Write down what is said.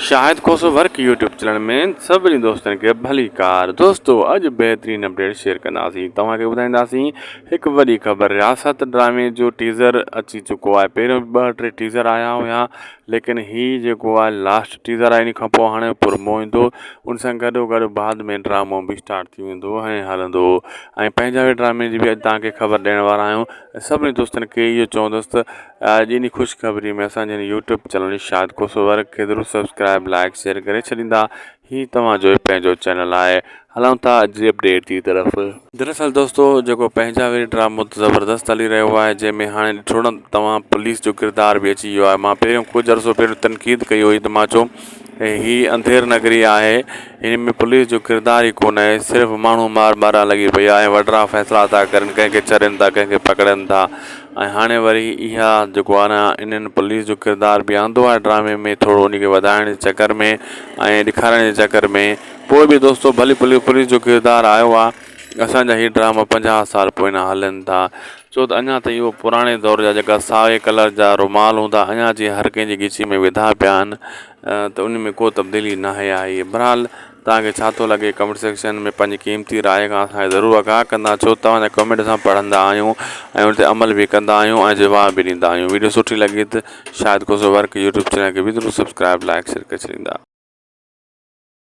شاهد Khoso work YouTube channel ۾ سڀني دوستن کي ڀليڪار دوستو اڄ بهترين اپڊيٽ شيئر ڪنداسين توهان کي ٻڌائينداسين هڪ وڏي خبر رياست ڊرامي جو ٽيزر اچي چڪو آهي پهريون به ٻه ٽي ٽيزر آيا هيا ليڪن هي جيڪو آهي لاسٽ ٽيزر آهي ان کان پوء هاڻي پرمو ايندو ان سان گڏو گڏ بعد ۾ ڊرامو به اسٽارٽ ٿي ويندو ۽ هلندو ۽ پنهنجا به ڊرامي جي به اڄ تهان کي خبر ڏيڻ وارا آهيون سڀني دوستن کي اهو چوندس ته اڄ انهي خوشخبري ۾ اسان جي هن YouTube channel Irshad Khoso work کي ضرور سبسڪرائيب لائيڪ شيئر ڪري ڇڏيندا هي توهان جو ئي پنهنجو چينل آهي هلون ٿا اڄ جي اپڊيٽ جي طرف. دراصل دوستو جيڪو پنهنجاويري ڊرامو ته زبردست هلي رهيو آهي جنهن ۾ هاڻي ڏٺو نه توهان پوليس جو ڪردار به اچي ويو آهي مان پهريون ڪجهه عرصو پهريون تنقيد ڪئي هئي ته مان چيو ۽ هي انڌير نگري آهي هن ۾ پوليس جو ڪردار ئي ڪونه آهي صرف ماڻهو مار مارڻ لڳي پئي آهي وڏڙا فيصلا ٿا ڪرن ڪنهن کي ڇڏين ٿا ڪنهن کي پڪڙين ٿا ۽ هاڻي وري اها جيڪو آهي نه انهن پوليس جو ڪردار به آندو آهي ڊرامي ۾ ٿورو ان کي وڌائڻ جي چڪر ۾ ۽ ڏيکارڻ جي چڪر ۾ پوء به دوستو ڀلي پوليس جو ڪردار آيو آهي اسان جا هي ڊراما پنجاهه سال پوئينان هلن ٿا ڇو ته اڃا تائين اهو پراڻي دور جا جيڪا سائي ڪلر جا رومال هوندا اڃا جي هر ڪنهن جي ڳچيء ۾ وڌا پيا آهن ته ان ۾ ڪو تبديلي نه آئي آهي بھرحال تهان کي ڇا ٿو لڳي ڪمينٽ سيڪشن ۾ پنهنجي قيمتي راء کان اسان کي ضرور آگاهه ڪندا ڇو ته توهان جا ڪمينٽ اسان پڙهندا آهيون ۽ ان تي عمل به ڪندا آهيون ۽ جواب به ڏيندا آهيون ويڊيو سٺي لڳي ته Shahid Khoso work YouTube channel کي به ضرور سبسڪرائب لائڪ شيئر ڪري ڇڏيندا